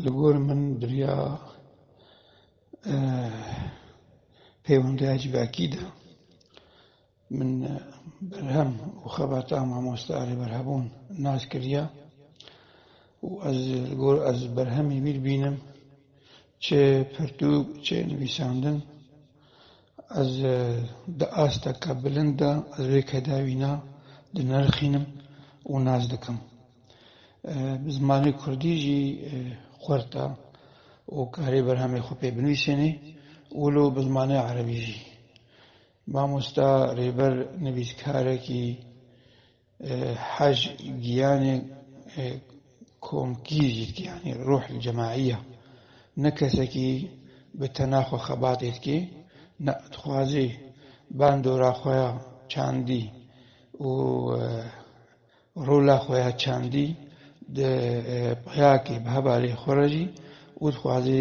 Li gor min biriya pêwendiya civakî de min berhem û xebata mamoste Alî Berhebûn nas kiriye û ez li gor ez berhemî wî dibînim çi pirtûk, çi nivîsandin Ez di asteke bilind de ez vê kedawî ne dinirxînim û nas dikim. Bi zimanê kurdî jî xurt e û karê berhemê xwe pê binivîsênê û lo bi zimanê erebî jî. Mamosta Rêber nivîskarekî Haj giyanê komkî jî dike yanî ruh li cemaî ya. Ne kesekî bi tena xwe xebatê dike ne dixwaze bandora xwe ya çandî û rola xwe ya çandî di peyakê bi hevalê xwe re jî û dixwaze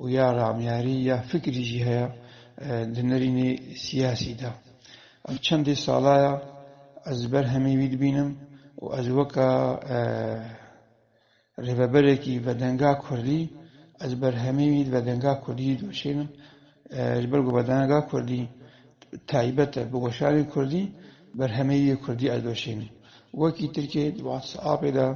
û ya ramyarî ya fikrî jî heye di nirînê siyasî de. Ev çendê sala ye ez li ber hemî wî dibînim û ez weke rêveberekî vedenga kurdî ez li ber hemî wî vedenga kurdî jî diweşênim ji ber ku vedenga kurdî taybet e bi weşanê kurdî. Berhemê yê kurdî ez doşîn. Wekî tirkê di WhatsAppê de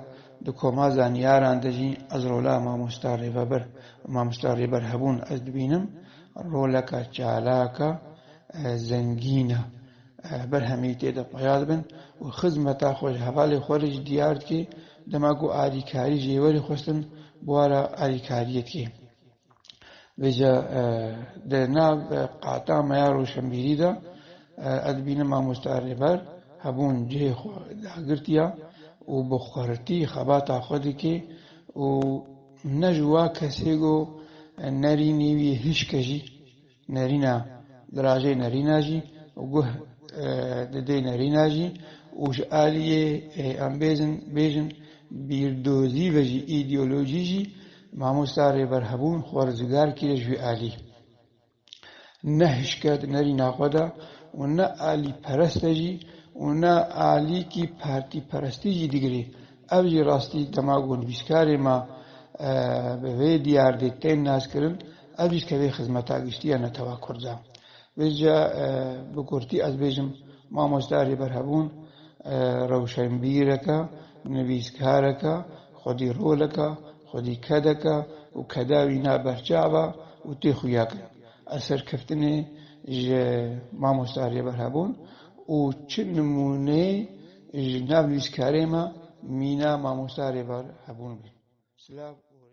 di koma zanîyaran de jî ez rola mamosta rêveber û mamosta rêber hebûn ez dibînim. Roleka çalak e, zengîn e. Berhemê tê de peya dibin û xizmeta xwe ji hevalê xwe re jî diyar dike. Dema ku alîkarî ji êwerê xwestin, bûara alîkariyê dike. Vêca di nav qata me ya roşenbîrî de ez dibînim mamosta Rêber hebûn cihê xwe dagirtiya û bi xwertî xebata xwe dike û ne ji wa kesê go ne rînê wî hişke jî Nerîna dirajê nerîna jî û guh di dê nerîna jî û ji aliyê em bêzin bêjin bîrdozî ve jî îdeolojî jî Mamosta Rêber Hebûn xwe rizgar kiriye ji wî alî ne hişke di nerîna xwe de û ne alîperest e jî û ne alîkî partîperestî jî digirê. Ev jî rastî dema ku nivîskarê me bi vê diyar dê tên naskirin Ez jî tevî xizmeta giştî ya netewa kurd e. Vê jî ya bi kurtî ez bêjim mamoste Rêberhevûn rewşenbîreke, nivîskareke, xwedîroleke, xwedîkedeke û keda wî na berçav e û tê xuyak in. Ez serkeftinê ji mamoste Rêberhevûn û çi nimûneyê ji nav nivîskarê me mîna mamoste Rêberhevûn bê. Silav û rê.